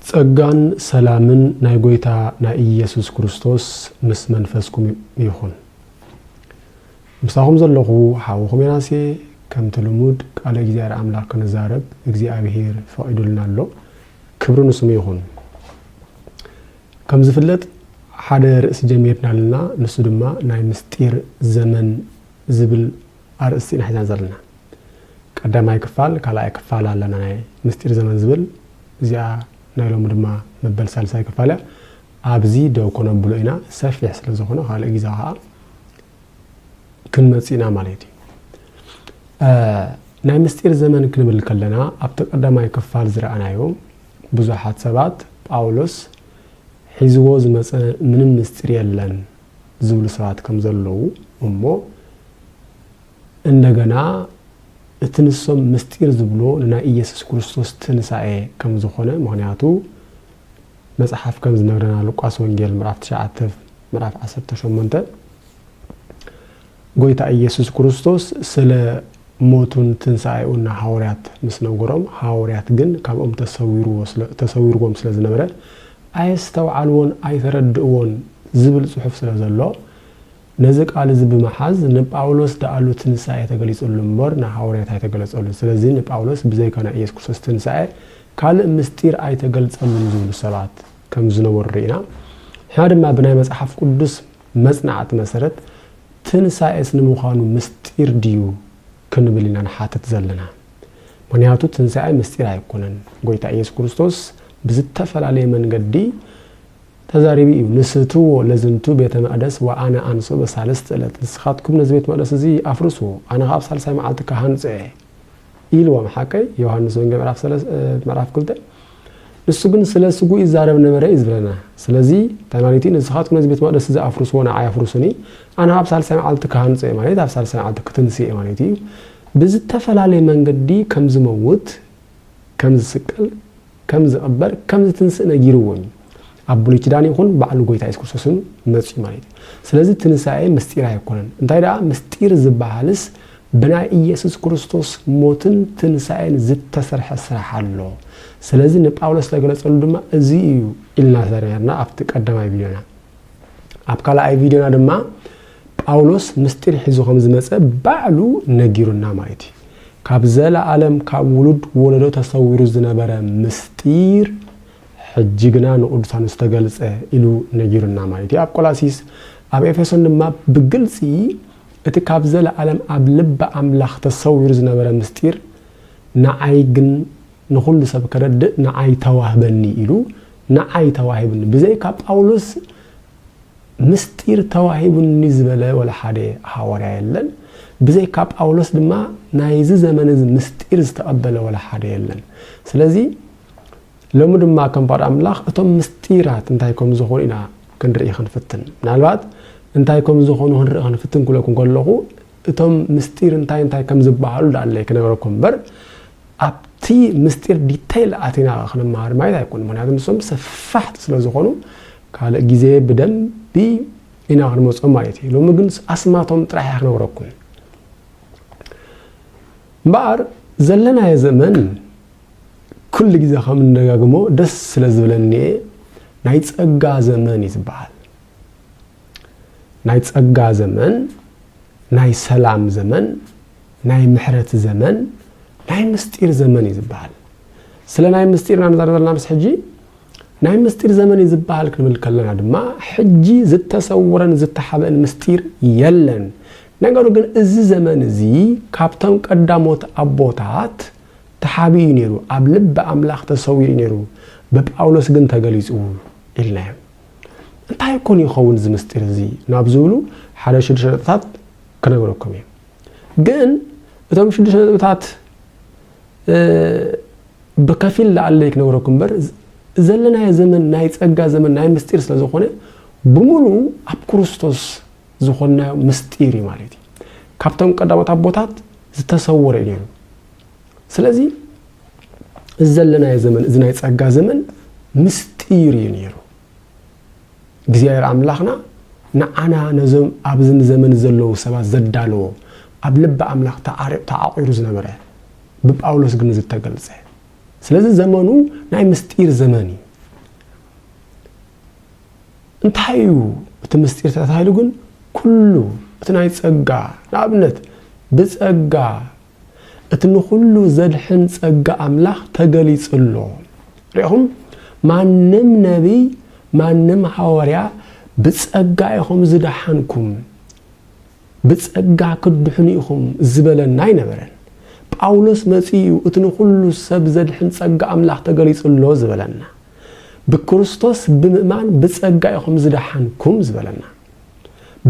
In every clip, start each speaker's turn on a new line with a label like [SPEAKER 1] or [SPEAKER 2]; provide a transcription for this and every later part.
[SPEAKER 1] ጸጋን ሰላምን ናይ ጎይታ ናይ ኢየሱስ ክርስቶስ ምስ መንፈስኩም ይኹን። ምሳኹም ዘለኹ ሓውኹም ዮናሴ ከምቲ ልሙድ ቃለ እግዚኣብሔር ኣምላኽ ክንዛረብ እግዚኣብሔር ፈቒዱልና ኣሎ። ክብሪ ንስሙ ይኹን። ከም ዝፍለጥ ሓደ ርእሲ ጀሚርና ኣለና ንሱ ድማ ናይ ምስጢር ዘመን ዝብል ኣርእስቲ ኢና ሒዝና ዘለና። ቀዳማይ ክፋል ካልኣይ ክፋል ኣለና ናይ ምስጢር ዘመን ዝብል እዚኣ ናይ ሎሚ ድማ መበል ሳልሳይ ክፋል እያ። ኣብዚ ደው ከነብሎ ኢና ሰፊሕ ስለ ዝኾነ ካልእ ግዜ ከኣ ክንመጽእ ኢና ማለት እዩ። ናይ ምስጢር ዘመን ክንብል ከለና ኣብቲ ቀዳማይ ክፋል ዝረኣናዮ ብዙሓት ሰባት ጳውሎስ ሒዝዎ ዝመጸ ምንም ምስጢር የለን ዝብሉ ሰባት ከም ዘለዉ እሞ እንደገና እቲ ንሶም ምስጢር ዝብሎ ንናይ ኢየሱስ ክርስቶስ ትንሳኤ ከም ዝኾነ ምክንያቱ መጽሓፍ ከም ዝነግረና ሉቃስ ወንጌል ምዕራፍ ትሽዓተ ምዕራፍ ዓሰርተ ሸሞንተ ጎይታ ኢየሱስ ክርስቶስ ስለ ሞቱን ትንሣኤኡን ንሃዋርያት ምስ ነገሮም ሃዋርያት ግን ካብኦም ተሰዊርዎም ስለ ዝነበረ ኣየስተውዓልዎን ኣይተረድእዎን ዝብል ጽሑፍ ስለ ዘሎ ነዚ ቃል እዚ ብምሓዝ ንጳውሎስ ደኣሉ ትንሳኤ ተገሊጽሉ እምበር ንሃወርያት ኣይተገለጸሉን ስለዚ ንጳውሎስ ብዘይካ ናይ ኢየሱስ ክርስቶስ ትንሳኤ ካልእ ምስጢር ኣይተገልጸሉን ዝብሉ ሰባት ከም ዝነበሩ ርኢና ንሕና ድማ ብናይ መጽሓፍ ቅዱስ መጽናዕቲ መሰረት ትንሳኤስ ንምዃኑ ምስጢር ድዩ ክንብል ኢና ንሓትት ዘለና ምክንያቱ ትንሳኤ ምስጢር ኣይኮነን ጎይታ ኢየሱስ ክርስቶስ ብዝተፈላለየ መንገዲ ተዛሪቢ እዩ ንስትዎ ለዝንቱ ቤተ መቅደስ ወኣነ ኣንሶ በሳልስት እለት ንስኻትኩም ነዚ ቤት መቅደስ እዚ ኣፍርስዎ ኣነ ከኣ ኣብ ሳልሳይ መዓልቲ ክሃንጾ እየ ኢልዎም ሓቀይ ዮሃንስ ወንጌል ምዕራፍ ሰለስ ምዕራፍ ክልተ ንሱ ግን ስለ ስጉ ይዛረብ ነበረ እዩ ዝብለና ስለዚ ተናሊቲ ንስኻትኩም ነዚ ቤት መቅደስ እዚ ኣፍርስዎ ንዓይ ኣፍርሱኒ ኣነ ኣብ ሳልሳይ መዓልቲ ክሃንጾ እየ ማለት ኣብ ሳልሳይ መዓልቲ ክትንስ እየ ማለት እዩ ብዝተፈላለየ መንገዲ ከም ዝመውት ከም ዝስቀል ከም ዝቅበር ከም ዝትንስእ ነጊርዎም እዩ ኣብ ብሉይ ኪዳን ይኹን ባዕሉ ጎይታ የሱስ ክርስቶስን መጽዩ ማለት እዩ ስለዚ ትንሳኤ ምስጢር ኣይኮነን እንታይ ደኣ ምስጢር ዝበሃልስ ብናይ ኢየሱስ ክርስቶስ ሞትን ትንሳኤን ዝተሰርሐ ስራሕ ኣሎ ስለዚ ንጳውሎስ ዝተገለጸሉ ድማ እዚ እዩ ኢልና ተነርና ኣብቲ ቀዳማይ ቪድዮና ኣብ ካልኣይ ቪድዮና ድማ ጳውሎስ ምስጢር ሒዙ ከም ዝመጸ ባዕሉ ነጊሩና ማለት እዩ። ካብ ዘለኣለም ካብ ውሉድ ወለዶ ተሰዊሩ ዝነበረ ምስጢር ሕጂ ግና ንቅዱሳኑ ዝተገልጸ ኢሉ ነጊሩና ማለት እዩ። ኣብ ቆላሲስ ኣብ ኤፌሶን ድማ ብግልጺ እቲ ካብ ዘለኣለም ኣብ ልቢ ኣምላኽ ተሰዊሩ ዝነበረ ምስጢር ንዓይ ግን ንኹሉ ሰብ ከረድእ ንዓይ ተዋህበኒ ኢሉ ንዓይ ተዋሂብኒ ብዘይካ ጳውሎስ ምስጢር ተዋሂቡኒ ዝበለ ወላ ሓደ ሃዋርያ የለን፣ ብዘይካ ጳውሎስ ድማ ናይዚ ዘመን እዚ ምስጢር ዝተቐበለ ወላ ሓደ የለን። ስለዚ ሎሚ ድማ ከም ፍቓድ ኣምላኽ እቶም ምስጢራት እንታይ ከም ዝኾኑ ኢና ክንርኢ ክንፍትን። ምናልባት እንታይ ከም ዝኾኑ ክንርኢ ክንፍትን ክብለኩም ከለኹ እቶም ምስጢር እንታይ እንታይ ከም ዝበሃሉ ዳኣለይ ክነገረኩም እምበር ኣብቲ ምስጢር ዲተይል ኣቲና ክንመሃር ማየት ኣይኮኑ ምክንያቱ ንሶም ሰፋሕቲ ስለ ዝኾኑ ካልእ ግዜ ብደንቢ ኢና ክንመጾም ማለት እዩ ሎሚ ግን ኣስማቶም ጥራሕ እያ ክነግረኩም እምበኣር ዘለናዮ ዘመን ኩሉ ግዜ ከም እንደጋግሞ ደስ ስለ ዝብለኒ እየ ናይ ጸጋ ዘመን እዩ ዝበሃል ናይ ጸጋ ዘመን ናይ ሰላም ዘመን ናይ ምሕረት ዘመን ናይ ምስጢር ዘመን እዩ ዝበሃል ስለ ናይ ምስጢር ኢና ንዛረብ ዘለና ምስ ሕጂ ናይ ምስጢር ዘመን እዩ ዝበሃል ክንብል ከለና ድማ ሕጂ ዝተሰውረን ዝተሓበእን ምስጢር የለን። ነገሩ ግን እዚ ዘመን እዚ ካብቶም ቀዳሞት ኣቦታት ተሓቢኡ እዩ ነይሩ፣ ኣብ ልቢ ኣምላኽ ተሰዊሩ እዩ ነይሩ፣ ብጳውሎስ ግን ተገሊጹ ኢልናዮም። እንታይ ኮን ይኸውን እዚ ምስጢር እዚ ናብ ዝብሉ ሓደ ሽዱሽተ ነጥብታት ክነግረኩም እየ። ግን እቶም ሽዱሽተ ነጥብታት ብከፊል ላኣለይ ክነግረኩም እምበር ዘለናዮ ዘመን ናይ ጸጋ ዘመን ናይ ምስጢር ስለ ዝኾነ ብምሉኡ ኣብ ክርስቶስ ዝኾንናዮ ምስጢር እዩ ማለት እዩ። ካብቶም ቀዳሞት ኣቦታት ዝተሰወረ እዩ ነይሩ። ስለዚ እዚ ዘለናዮ ዘመን እዚ ናይ ጸጋ ዘመን ምስጢር እዩ ነይሩ። እግዚኣብሔር ኣምላኽና ንዓና ነዞም ኣብዚ ንዘመን ዘለዉ ሰባት ዘዳለዎ ኣብ ልቢ ኣምላኽ ተዓቝሩ ዝነበረ ብጳውሎስ ግን ዝተገልጸ ስለዚ ዘመኑ ናይ ምስጢር ዘመን እዩ እንታይ እዩ እቲ ምስጢር ተታሂሉ ግን ኩሉ እቲ ናይ ጸጋ ንኣብነት ብጸጋ እቲ ንኹሉ ዘድሕን ጸጋ ኣምላኽ ተገሊጹ ኣሎ። ርኢኹም፣ ማንም ነብይ፣ ማንም ሃዋርያ፣ ብጸጋ ኢኹም ዝደሓንኩም፣ ብጸጋ ክትድሕኑ ኢኹም ዝበለና ኣይነበረን። ጳውሎስ መጺኡ እዩ እቲ ንኹሉ ሰብ ዘድሕን ጸጋ ኣምላኽ ተገሊጹ ኣሎ ዝበለና። ብክርስቶስ ብምእማን ብጸጋ ኢኹም ዝደሓንኩም ዝበለና።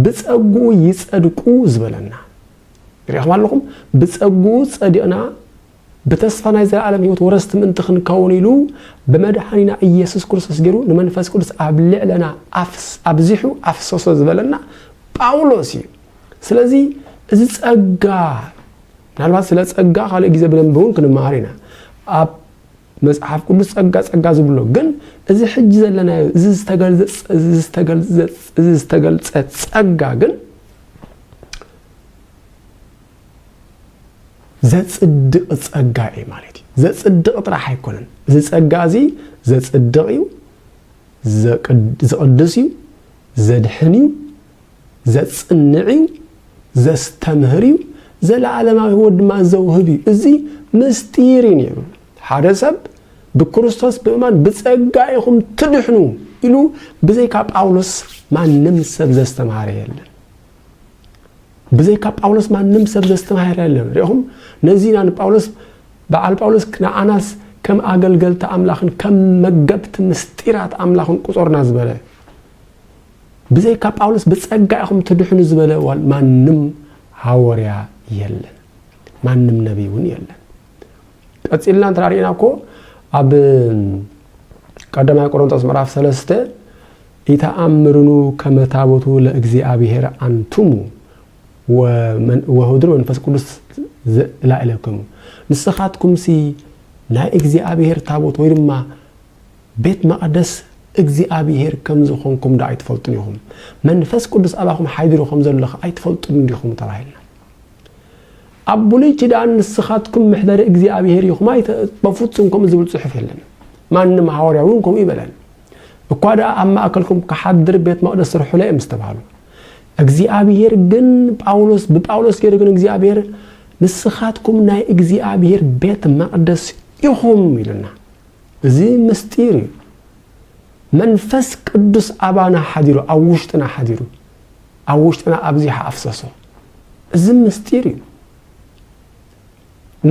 [SPEAKER 1] ብጸግኡ ይጸድቁ ዝበለና። ርኢኹም ኣለኹም፣ ብጸግኡ ጸዲቕና ብተስፋ ናይ ዘለኣለም ህይወት ወረስቲ ምእንቲ ክንከውን ኢሉ ብመድሓኒና ኢየሱስ ክርስቶስ ገይሩ ንመንፈስ ቅዱስ ኣብ ልዕለና ኣብዚሑ ኣፍሰሶ ዝበለና ጳውሎስ እዩ። ስለዚ እዚ ጸጋ ምናልባት ስለ ጸጋ ካልእ ግዜ ብደንቢ እውን ክንመሃር ኢና። መጽሓፍ ቅዱስ ጸጋ ጸጋ ዝብሎ ግን እዚ ሕጂ ዘለናዮ እዚ ዝተገልጸ ጸጋ ግን ዘጽድቕ ጸጋ እዩ ማለት እዩ ዘጽድቕ ጥራሕ ኣይኮነን እዚ ጸጋ እዚ ዘጽድቕ እዩ ዝቕድስ እዩ ዘድሕን እዩ ዘጽንዕ እዩ፣ ዘስተምህር እዩ፣ ዘለኣለማዊ ህይወት ድማ ዘውህብ እዩ። እዚ ምስጢር እዩ ነይሩ። ሓደ ሰብ ብክርስቶስ ብምእማን ብጸጋ ኢኹም ትድሕኑ ኢሉ ብዘይካ ጳውሎስ ማንም ሰብ ዘስተምሃረ የለን። ብዘይካ ጳውሎስ ማንም ሰብ ዘስተማሃረ የለን ሪኹም ነዚ ኢና ንጳውሎስ በዓል ጳውሎስ ንኣናስ ከም ኣገልገልቲ ኣምላኽን ከም መገብቲ ምስጢራት ኣምላኽን ቁጾርና ዝበለ ብዘይካ ጳውሎስ ብጸጋ ኢኹም ትድሕኑ ዝበለ እዋን ማንም ሃወርያ የለን፣ ማንም ነቢይ እውን የለን። ቀጺልና እንተ ርኢና እኮ ኣብ ቀዳማይ ቆሮንጦስ ምዕራፍ ሰለስተ ኢተኣምርኑ ከመ ታቦቱ ለእግዚኣብሔር ኣንቱሙ ወህድር መንፈስ ቅዱስ ዘእላእለክሙ ንስኻትኩምሲ ናይ እግዚኣብሔር ታቦት ወይ ድማ ቤት መቕደስ እግዚኣብሄር ከም ዝዀንኩም ዶ ኣይትፈልጡን ኢኹም? መንፈስ ቅዱስ ኣባኹም ሓዲሩ ከም ዘሎ ኸ ኣይትፈልጡን ዲኹም? ተባሂልና። ኣብ ብሉይ ኪዳን ንስኻትኩም መሕደሪ እግዚኣብሄር ኢኹም ኣይተ በፍጹም ከምኡ ዝብል ጽሑፍ የለን። ማንም ሃዋርያ እውን ከምኡ ይበለን። እኳ ደኣ ኣብ ማእከልኩም ክሓድር ቤት መቕደስ ስርሑለ እዮም ዝተባህሉ። እግዚኣብሄር ግን ጳውሎስ ብጳውሎስ ገይሩ ግን እግዚኣብሄር ንስኻትኩም ናይ እግዚኣብሄር ቤት መቕደስ ኢኹም ኢሉና። እዚ ምስጢር እዩ መንፈስ ቅዱስ ኣባና ሓዲሩ ኣብ ውሽጥና ሓዲሩ ኣብ ውሽጥና ኣብዚሓ ኣፍሰሶ እዚ ምስጢር እዩ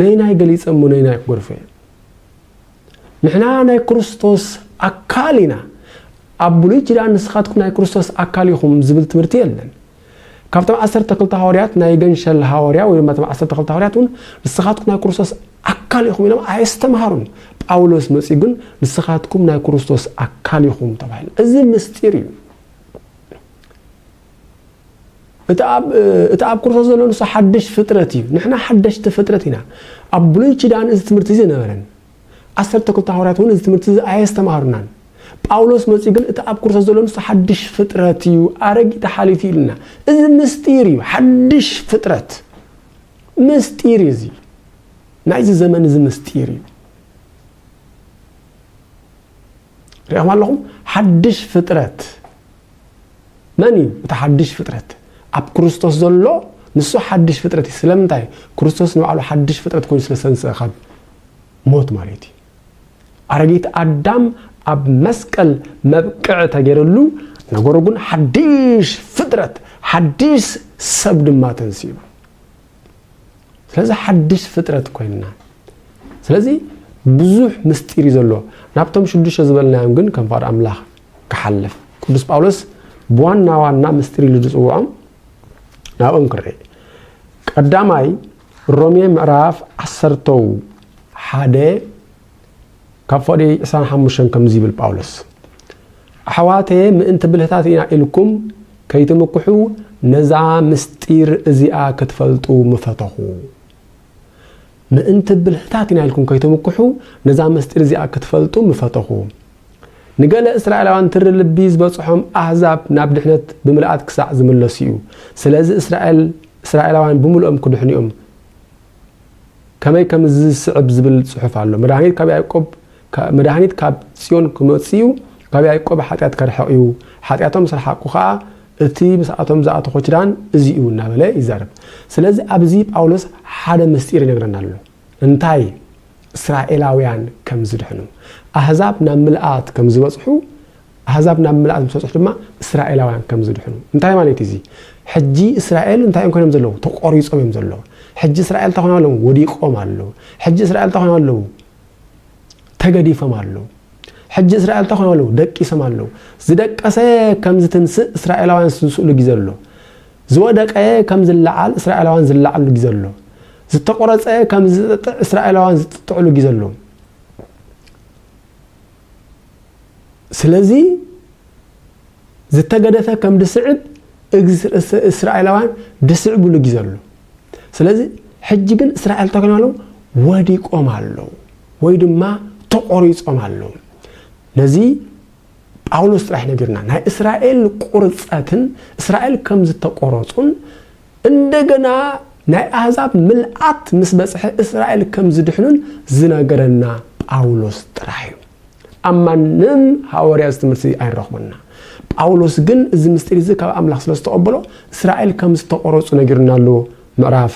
[SPEAKER 1] ነይናይ ገሊፀ እሞ ነይናይ ክጎርፎ እየ ንሕና ናይ ክርስቶስ ኣካል ኢና ኣብ ብሉይ ኪዳን ንስኻትኩም ናይ ክርስቶስ ኣካል ኢኹም ዝብል ትምህርቲ የለን ካብቶም ዓሰርተ ክልተ ሃወርያት ናይ ገንሸል ሃወርያ ወይ ድማ እቶም ዓሰርተ ክልተ ሃወርያት እውን ንስኻትኩም ናይ ክርስቶስ ኣካል ኢኹም ኢሎም ኣየስተምሃሩን። ጳውሎስ መጺኡ ግን ንስኻትኩም ናይ ክርስቶስ ኣካል ኢኹም ተባሂሉ። እዚ ምስጢር እዩ። እቲ ኣብ እቲ ኣብ ክርስቶስ ዘሎ ንሱ ሓድሽ ፍጥረት እዩ። ንሕና ሓደሽቲ ፍጥረት ኢና። ኣብ ብሉይ ኪዳን እዚ ትምህርቲ እዚ ነበረን። ዓሰርተ ክልተ ሃዋርያት እውን እዚ ትምህርቲ እዚ ኣየስተምሃሩናን። ጳውሎስ መጺኡ ግን እቲ ኣብ ክርስቶስ ዘሎ ንሱ ሓድሽ ፍጥረት እዩ፣ ኣረጊት ሓሊፉ ኢሉና። እዚ ምስጢር እዩ፣ ሓድሽ ፍጥረት ምስጢር እዩ። እዚ ናይዚ ዘመን እዚ ምስጢር እዩ። ሪእኹም ኣለኹም ሓድሽ ፍጥረት መን እዩ እቲ ሓድሽ ፍጥረት ኣብ ክርስቶስ ዘሎ ንሱ ሓድሽ ፍጥረት እዩ ስለምንታይ ክርስቶስ ንባዕሉ ሓድሽ ፍጥረት ኮይኑ ስለ ዝተንስአ ካብ ሞት ማለት እዩ ኣረጊት ኣዳም ኣብ መስቀል መብቅዕ ተገይረሉ ነገሩ ግን ሓድሽ ፍጥረት ሓድሽ ሰብ ድማ ተንስኡ ስለዚ ሓድሽ ፍጥረት ኮይንና ስለዚ ብዙሕ ምስጢር እዩ ዘለዎ ናብቶም ሽዱሽተ ዝበልናዮም ግን ከም ፍቓድ ኣምላኽ ክሓልፍ ቅዱስ ጳውሎስ ብዋና ዋና ምስጢር ኢሉ ዝፅውዖም ናብኦም ክርኢ ቀዳማይ ሮሜ ምዕራፍ ዓሰርተው ሓደ ካብ ፍቕዲ ዕስራን ሓሙሽተን ከምዚ ይብል ጳውሎስ፣ ኣሕዋተየ ምእንቲ ብልህታት ኢና ኢልኩም ከይትምክሑ ነዛ ምስጢር እዚኣ ክትፈልጡ ምፈተኹ። ምእንቲ ብልህታት ኢና ኢልኩም ከይትምክሑ ነዛ ምስጢር እዚኣ ክትፈልጡ ምፈተኹ። ንገለ እስራኤላውያን ትሪ ልቢ ዝበጽሖም ኣህዛብ ናብ ድሕነት ብምልኣት ክሳዕ ዝምለሱ እዩ። ስለዚ እስራኤል እስራኤላውያን ብምልኦም ክድሕኑ እዮም። ከመይ ከም ዝስዕብ ዝብል ጽሑፍ ኣሎ፣ መድሃኒት ካብ ያእቆብ መድሃኒት ካብ ጽዮን ክመጽእ እዩ፣ ካብ ያእቆብ ሓጢኣት ከርሕቕ እዩ፣ ሓጢኣቶም ምስ ረሓቕኩ ኸኣ እቲ ምስኣቶም ዝኣተኹ ኪዳን እዚ እዩ እናበለ ይዛረብ። ስለዚ ኣብዚ ጳውሎስ ሓደ ምስጢር ይነግረና ኣሎ። እንታይ? እስራኤላውያን ከም ዝድሕኑ፣ ኣህዛብ ናብ ምልኣት ከም ዝበጽሑ፣ ኣህዛብ ናብ ምልኣት ምስ በጽሑ ድማ እስራኤላውያን ከም ዝድሕኑ። እንታይ ማለት እዩ እዚ? ሕጂ እስራኤል እንታይ እዮም ኮይኖም ዘለዉ? ተቖሪጾም እዮም ዘለዉ። ሕጂ እስራኤል እንታይ ኮይኖም ኣለዉ? ወዲቆም ኣለዉ። ሕጂ እስራኤል እንታይ ኮይኖም ኣለዉ? ተገዲፎም ኣለዉ። ሕጂ እስራኤል እንታይ ኮይኖም ኣለዉ? ደቂሶም ኣለዉ። ዝደቀሰ ከም ዝትንስእ እስራኤላውያን ዝትንስእሉ ግዜ ኣሎ። ዝወደቀ ከም ዝለዓል እስራኤላውያን ዝለዓሉ ግዜ ኣሎ። ዝተቆረጸ ከም ዝጥጥዕ እስራኤላውያን ዝጥጥዕሉ ግዜ ኣሎ። ስለዚ ዝተገደፈ ከም ድስዕብ እግዝ ርእሰ እስራኤላውያን ድስዕብሉ ጊዜ ኣሎ ስለዚ ሕጂ ግን እስራኤል ተኮይና ኣለዉ ወዲቆም ኣለዉ ወይ ድማ ተቆሪጾም ኣለዉ ነዚ ጳውሎስ ጥራሕ ነጊርና ናይ እስራኤል ቁርፀትን እስራኤል ከም ዝተቆረፁን እንደገና ናይ ኣህዛብ ምልኣት ምስ በፅሐ እስራኤል ከም ዝድሕኑን ዝነገረና ጳውሎስ ጥራሕ እዩ ኣብ ማንም ሃወርያ እዚ ትምህርቲ ኣይንረኽቦን ኢና። ጳውሎስ ግን እዚ ምስጢር እዚ ካብ ኣምላኽ ስለ ዝተቐበሎ እስራኤል ከም ዝተቖረጹ ነጊሩና ኣሎ። ምዕራፍ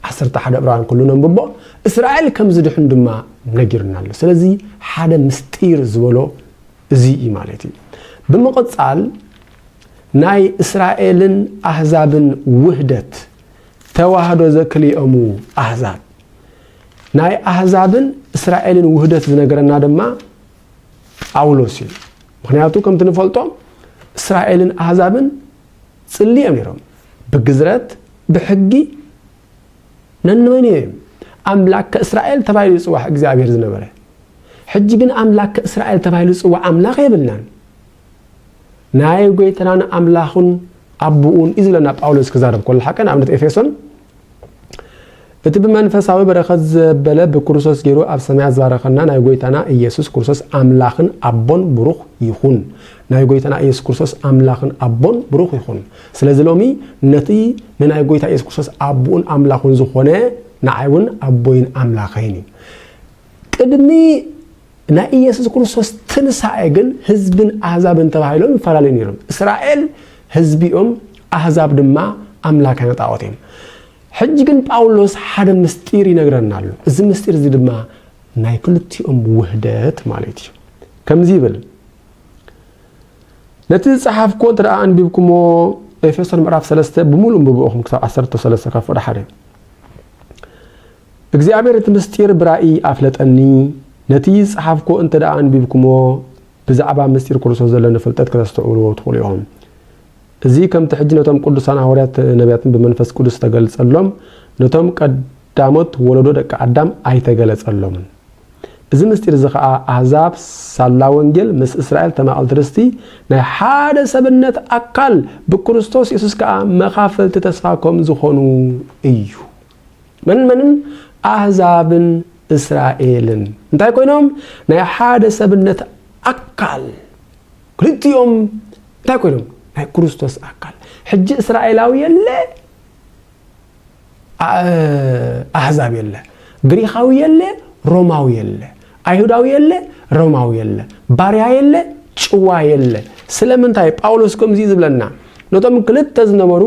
[SPEAKER 1] ዓሰርተ ሓደ ዕብራውያን ኩሉ ነንብቦ እስራኤል ከም ዝድሕኑ ድማ ነጊሩና ኣሎ። ስለዚ ሓደ ምስጢር ዝበሎ እዚ እዩ ማለት እዩ። ብምቕጻል ናይ እስራኤልን ኣህዛብን ውህደት ተዋህዶ ዘክልኦሙ ኣህዛብ ናይ ኣህዛብን እስራኤልን ውህደት ዝነገረና ድማ ጳውሎስ እዩ ምክንያቱ ከምቲ ንፈልጦ እስራኤልን ኣህዛብን ጽሊ እዮም ነሮም ብግዝረት ብሕጊ ነንመን እዮም ኣምላከ እስራኤል ተባሂሉ ዝፅዋዕ እግዚኣብሔር ዝነበረ ሕጂ ግን ኣምላከ እስራኤል ተባሂሉ ዝፅዋዕ ኣምላኽ የብልናን ናይ ጎይተናን ኣምላኹን ኣቦኡን እዩ ዝብለና ጳውሎስ ክዛረብ ከሎ ሓቀ ንኣብነት ኤፌሶን እቲ ብመንፈሳዊ በረከት ዘበለ ብክርስቶስ ገይሩ ኣብ ሰማያት ዝባረከና ናይ ጎይታና ኢየሱስ ክርስቶስ ኣምላክን ኣቦን ብሩክ ይኩን ናይ ጎይታና ኢየሱስ ክርስቶስ ኣምላክን ኣቦን ብሩክ ይኩን ስለዚ ሎሚ ነቲ ንናይ ጎይታ ኢየሱስ ክርስቶስ ኣቡኡን ኣምላኩን ዝኮነ ንዓይ እውን ኣቦይን ኣምላከይን እዩ ቅድሚ ናይ ኢየሱስ ክርስቶስ ትንሳኤ ግን ህዝብን ኣህዛብን ተባሂሎም ይፈላለዩ ነይሮም። እስራኤል ህዝቢ እዮም፣ ኣህዛብ ድማ ኣምላካውያን ጣዖት እዮም። ሕጂ ግን ጳውሎስ ሓደ ምስጢር ይነግረና ኣሎ። እዚ ምስጢር እዚ ድማ ናይ ክልቲኦም ውህደት ማለት እዩ። ከምዚ ይብል ነቲ ዝጸሓፍኩዎ እንተ ኣንቢብኩሞ ኤፌሶን ምዕራፍ 3 ብምሉእ ንብብኦኹም ክሳብ 13 ካብ ፍቕዲ ሓደ እግዚኣብሔር እቲ ምሥጢር ብራእይ ኣፍለጠኒ፣ ነቲ ዝጸሓፍኩዎ እንተ ደኣ ኣንቢብኩምዎ ብዛዕባ ምሥጢር ክርስቶስ ዘለኒ ፍልጠት ከተስተውዕልዎ ትኽእሉ ኢኹም። እዚ ከምቲ ሕጂ ነቶም ቅዱሳን ሃዋርያት ነቢያትን ብመንፈስ ቅዱስ ዝተገልጸሎም ነቶም ቀድ ዳሞት ወለዶ ደቂ ኣዳም ኣይተገለጸሎምን። እዚ ምሥጢር እዚ ኸኣ ኣሕዛብ ሳላ ወንጌል ምስ እስራኤል ተማቐልቲ ርስቲ ናይ ሓደ ሰብነት ኣካል ብክርስቶስ የሱስ ከኣ መኻፈልቲ ተስፋ ከም ዝኾኑ እዩ። መንን መንን? ኣህዛብን እስራኤልን እንታይ ኮይኖም? ናይ ሓደ ሰብነት ኣካል ክልቲኦም እንታይ ኮይኖም? ናይ ክርስቶስ ኣካል። ሕጂ እስራኤላዊ የለ፣ ኣህዛብ የለ፣ ግሪኻዊ የለ፣ ሮማዊ የለ። ኣይሁዳዊ የለ ሮማዊ የለ፣ ባርያ የለ ጭዋ የለ። ስለምንታይ እዩ ጳውሎስ ከምዚ ዝብለና? ነቶም ክልተ ዝነበሩ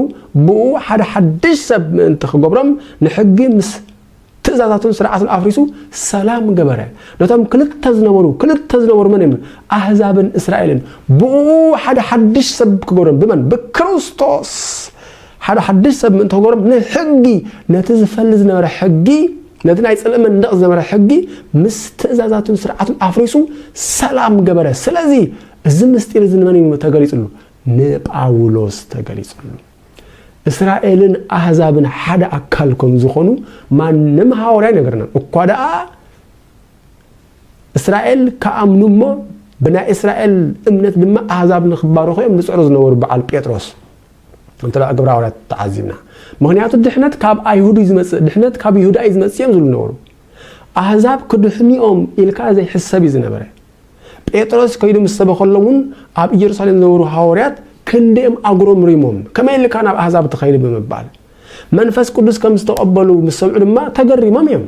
[SPEAKER 1] ብእኡ ሓደ ሓድሽ ሰብ ምእንቲ ክገብሮም ንሕጊ ምስ ትእዛዛቱን ስርዓቱን ኣፍሪሱ ሰላም ገበረ። ነቶም ክልተ ዝነበሩ ክልተ ዝነበሩ መን እዮም? ኣህዛብን እስራኤልን። ብእኡ ሓደ ሓድሽ ሰብ ክገብሮም ብመን? ብክርስቶስ። ሓደ ሓድሽ ሰብ ምእንቲ ክገሮም ንሕጊ ነቲ ዝፈሊ ዝነበረ ሕጊ ነቲ ናይ ጽልኢ መንደቕ ዝነበረ ሕጊ ምስ ትእዛዛቱን ስርዓቱን ኣፍሪሱ ሰላም ገበረ። ስለዚ እዚ ምስጢር እዚ ንመን እዩ ተገሊጽሉ? ንጳውሎስ ተገሊጽሉ። እስራኤልን ኣህዛብን ሓደ ኣካል ከም ዝኾኑ ማንም ሃዋርያ ኣይነገረናን። እኳ ደኣ እስራኤል ክኣምኑ እሞ ብናይ እስራኤል እምነት ድማ ኣህዛብ ንክባረኹ እዮም ዝጽዕሩ ዝነበሩ በዓል ጴጥሮስ እንተደኣ ግብረ ሃዋርያት ተዓዚብና ምኽንያቱ ድሕነት ካብ ኣይሁድ እዩ ዝመጽእ ድሕነት ካብ ይሁዳ እዩ ዝመጽእ እዮም ዝብሉ ነበሩ ኣህዛብ ክድሕኑኦም ኢልካ ዘይሕሰብ እዩ ዝነበረ ጴጥሮስ ከይዱ ምስ ሰበኸሎም እውን ኣብ ኢየሩሳሌም ዝነበሩ ሃዋርያት ክንደኦም ኣጉረምሪሞም ከመይ ኢልካ ናብ ኣህዛብ ትኸይድ ብምባል መንፈስ ቅዱስ ከም ዝተቐበሉ ምስ ሰምዑ ድማ ተገሪሞም እዮም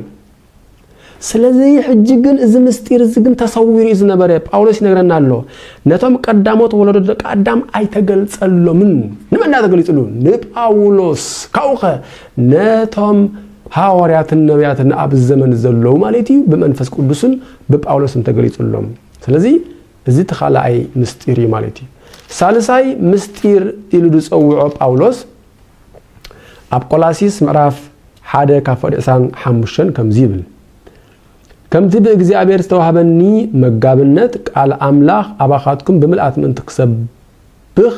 [SPEAKER 1] ስለዚ ሕጂ ግን እዚ ምስጢር እዚ ግን ተሰዊሩ እዩ ዝነበረ። ጳውሎስ ይነግረና ኣሎ፣ ነቶም ቀዳሞት ወለዶ ደቂ ኣዳም ኣይተገልጸሎምን። ንመን ድኣ ተገሊጽሉ? ንጳውሎስ። ካብኡኸ ነቶም ሃዋርያትን ነቢያትን ኣብ ዘመን ዘለዉ ማለት እዩ ብመንፈስ ቅዱስን ብጳውሎስን ተገሊጽሎም። ስለዚ እዚ እቲ ካልኣይ ምስጢር እዩ ማለት እዩ። ሳልሳይ ምስጢር ኢሉ ዝጸውዖ ጳውሎስ ኣብ ቆላሲስ ምዕራፍ ሓደ ካብ ፍቕዲ ዕስራን ሓሙሽተን ከምዚ ይብል ከምቲ ብእግዚኣብሔር ዝተዋህበኒ መጋብነት ቃል ኣምላኽ ኣባኻትኩም ብምልኣት ምእንቲ ክሰብኽ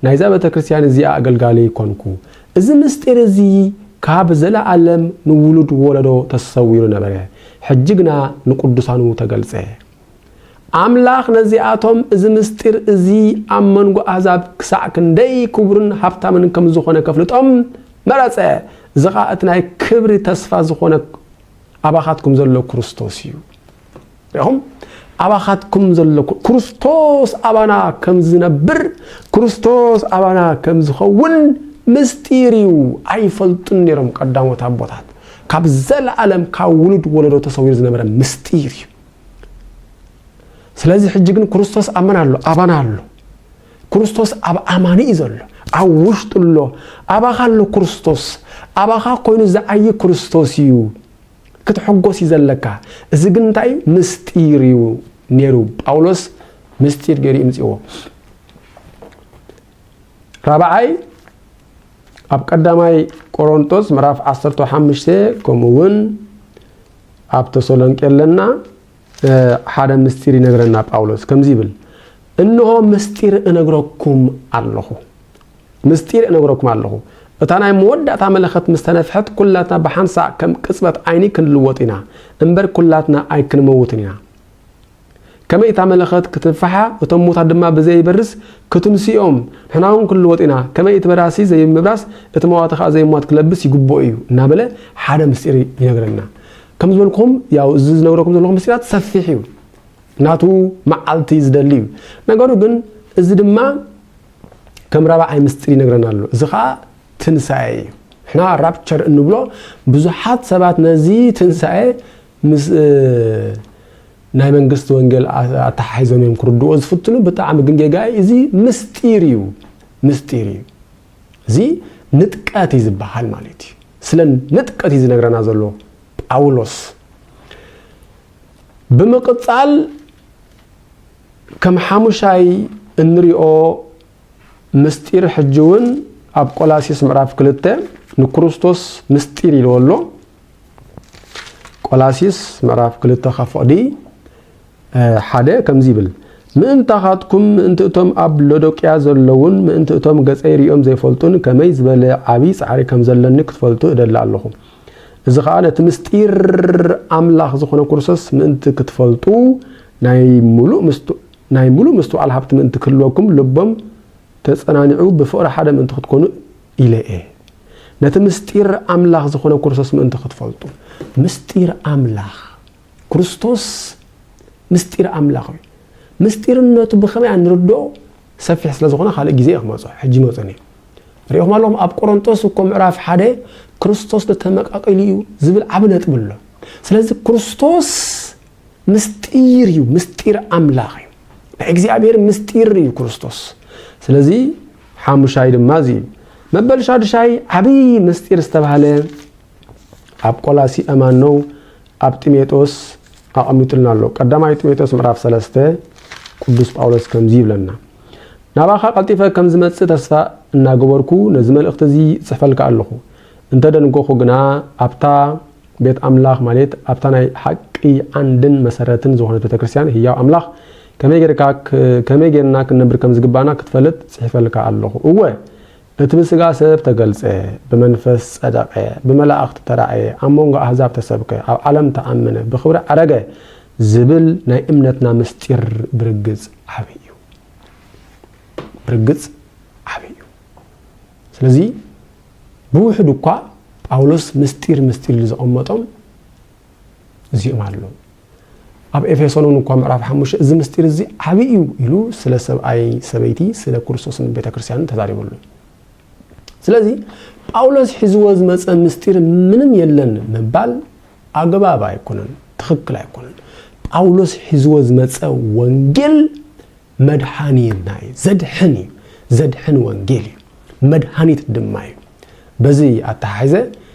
[SPEAKER 1] ናይዛ ቤተ ክርስቲያን እዚኣ ኣገልጋሊ ኮንኩ እዚ ምስጢር እዚ ካብ ዘለኣለም ንውሉድ ወለዶ ተሰዊሩ ነበረ ሕጂ ግና ንቅዱሳኑ ተገልጸ ኣምላኽ ነዚኣቶም እዚ ምስጢር እዚ ኣብ መንጎ ኣህዛብ ክሳዕ ክንደይ ክቡርን ሃብታምን ከም ዝዀነ ከፍልጦም መረጸ፣ እዚ ኸኣ እቲ ናይ ክብሪ ተስፋ ዝዀነ ኣባኻትኩም ዘሎ ክርስቶስ እዩ። ርኢኹም? ኣባኻትኩም ዘሎ ክርስቶስ ኣባና ከም ዝነብር፣ ክርስቶስ ኣባና ከም ዝኸውን ምስጢር እዩ። ኣይፈልጡን ነይሮም ቀዳሞት ኣቦታት። ካብ ዘለኣለም ካብ ውሉድ ወለዶ ተሰዊሩ ዝነበረ ምስጢር እዩ። ስለዚ ሕጂ ግን ክርስቶስ ኣብ መን ኣሎ ኣባና ኣሎ ክርስቶስ ኣብ ኣማኒ እዩ ዘሎ ኣብ ውሽጡ ኣሎ ኣባኻ ኣሎ ክርስቶስ ኣባኻ ኮይኑ ዝዓይ ክርስቶስ እዩ ክትሕጎስ እዩ ዘለካ እዚ ግን እንታይ እዩ ምስጢር እዩ ነይሩ ጳውሎስ ምስጢር ገይሩ ይምፅዎ ራብዓይ ኣብ ቀዳማይ ቆሮንጦስ ምዕራፍ 15 ከምኡ እውን ኣብ ተሰሎንቄ ኣለና ሓደ ምስጢር ይነግረና ጳውሎስ ከምዚ ይብል እንሆ ምስጢር እነግረኩም ኣለኹ ምስጢር እነግረኩም ኣለኹ እታ ናይ መወዳእታ መለኸት ምስ ተነፍሐት ኩላትና ብሓንሳእ ከም ቅጽበት ዓይኒ ክንልወጥ ኢና እምበር ኩላትና ኣይክንመውትን ኢና ከመይ እታ መለኸት ክትንፍሓ እቶም ሙታት ድማ ብዘይ በርስ ክትንስኦም ንሕና ውን ክንልወጥ ኢና ከመይ እቲ በራሲ ዘይምብራስ እቲ መዋቲ ከኣ ዘይሟት ክለብስ ይግብኦ እዩ እናበለ ሓደ ምስጢር ይነግረና ከም ዝበልኩም ያው እዚ ዝነግረኩም ዘለኹ ምስጢራት ሰፊሕ እዩ ናቱ መዓልቲ ዝደሊ እዩ ነገሩ ግን እዚ ድማ ከም ራብዓይ ምስጢር ይነግረና ኣሎ እዚ ከዓ ትንሳኤ እዩ ንሕና ራፕቸር እንብሎ ብዙሓት ሰባት ነዚ ትንሳኤ ምስ ናይ መንግስቲ ወንጌል ኣተሓሒዞም እዮም ክርድእዎ ዝፍትኑ ብጣዕሚ ግን ጌጋ እዩ እዚ ምስጢር እዩ ምስጢር እዩ እዚ ንጥቀት እዩ ዝበሃል ማለት እዩ ስለ ንጥቀት እዩ ዝነግረና ዘሎ ጳውሎስ ብምቅጻል ከም ሓሙሻይ እንሪኦ ምስጢር ሕጂ እውን ኣብ ቆላሲስ ምዕራፍ ክልተ ንክርስቶስ ምስጢር ኢልዎ ኣሎ ቆላሲስ ምዕራፍ ክልተ ካብ ፍቕዲ ሓደ ከምዚ ይብል ምእንታኻትኩም ምእንቲ እቶም ኣብ ሎዶቅያ ዘለዉን ምእንቲ እቶም ገጸይ ርእዮም ዘይፈልጡን ከመይ ዝበለ ዓብዪ ጻዕሪ ከም ዘለኒ ክትፈልጡ እደሊ ኣለኹ እዚ ኸኣ ነቲ ምስጢር ኣምላኽ ዝኾነ ክርስቶስ ምእንቲ ክትፈልጡ ናይ ምሉእ ምስጢር ናይ ሙሉእ ምስትውዓል ሃብቲ ምእንቲ ክህልወኩም ልቦም ተጸናኒዑ ብፍቕሪ ሓደ ምእንቲ ክትኮኑ ኢለ እየ ነቲ ምስጢር ኣምላኽ ዝኾነ ክርስቶስ ምእንቲ ክትፈልጡ። ምስጢር ኣምላኽ፣ ክርስቶስ ምስጢር ኣምላኽ እዩ። ምስጢርነቱ ብኸመይ ኣንርድኦ ሰፊሕ ስለ ዝኾነ ካልእ ግዜ እየ ክመጾ ሕጂ መጹን እየ ሪኢኹም ኣለኹም ኣብ ቆሮንጦስ እኮ ምዕራፍ ሓደ ክርስቶስ ንተመቃቂሉ እዩ ዝብል ዓብ ነጥቢ ኣሎ ስለዚ ክርስቶስ ምስጢር እዩ ምስጢር ኣምላኽ እዩ ናይ እግዚኣብሔር ምስጢር እዩ ክርስቶስ ስለዚ ሓሙሻይ ድማ እዚ እዩ። መበል ሻዱሻይ ዓብዪ ምስጢር ዝተባህለ ኣብ ቆላሲ እማነው ኣብ ጢሜጦስ ኣቐሚጡልና ኣሎ። ቀዳማይ ጢሜጦስ ምዕራፍ ሰለስተ ቅዱስ ጳውሎስ ከምዚ ይብለና ናባኻ ቀልጢፈ ከም ዝመጽእ ተስፋ እናገበርኩ ነዚ መልእኽቲ እዚ ጽሕፈልካ ኣለኹ። እንተ ደንጎኹ ግና ኣብታ ቤት ኣምላኽ ማለት ኣብታ ናይ ሓቂ ዓንድን መሰረትን ዝኾነት ቤተ ክርስቲያን ህያው ኣምላኽ ከመይ ጌርካ ከመይ ጌርና ክንነብር ከም ዝግባእና ክትፈልጥ ጽሒፈልካ ኣለኹ። እወ፣ እቲ ብስጋ ሰብ ተገልጸ፣ ብመንፈስ ጸደቐ፣ ብመላእኽቲ ተራእየ፣ ኣብ መንጎ ኣህዛብ ተሰብከ፣ ኣብ ዓለም ተኣመነ፣ ብኽብሪ ዓረገ ዝብል ናይ እምነትና ምስጢር ብርግጽ ዓቢ እዩ። ብርግጽ ዓቢ እዩ። ስለዚ ብውሕዱ እኳ ጳውሎስ ምስጢር ምስጢር ኢሉ ዘቐመጦም እዚኦም ኣለዉ። ኣብ ኤፌሶን እውን እኳ ምዕራፍ ሓሙሽተ እዚ ምስጢር እዚ ዓብዪ እዩ ኢሉ ስለ ሰብኣይ ሰበይቲ ስለ ክርስቶስን ቤተ ክርስቲያንን ተዛሪበሉ እዩ ስለዚ ጳውሎስ ሒዝዎ ዝመፀ ምስጢር ምንም የለን ምባል ኣግባብ ኣይኮነን ትኽክል ኣይኮነን ጳውሎስ ሒዝዎ ዝመፀ ወንጌል መድሓኒትና እዩ ዘድሕን እዩ ዘድሕን ወንጌል እዩ መድሃኒት ድማ እዩ በዚ ኣተሓሒዘ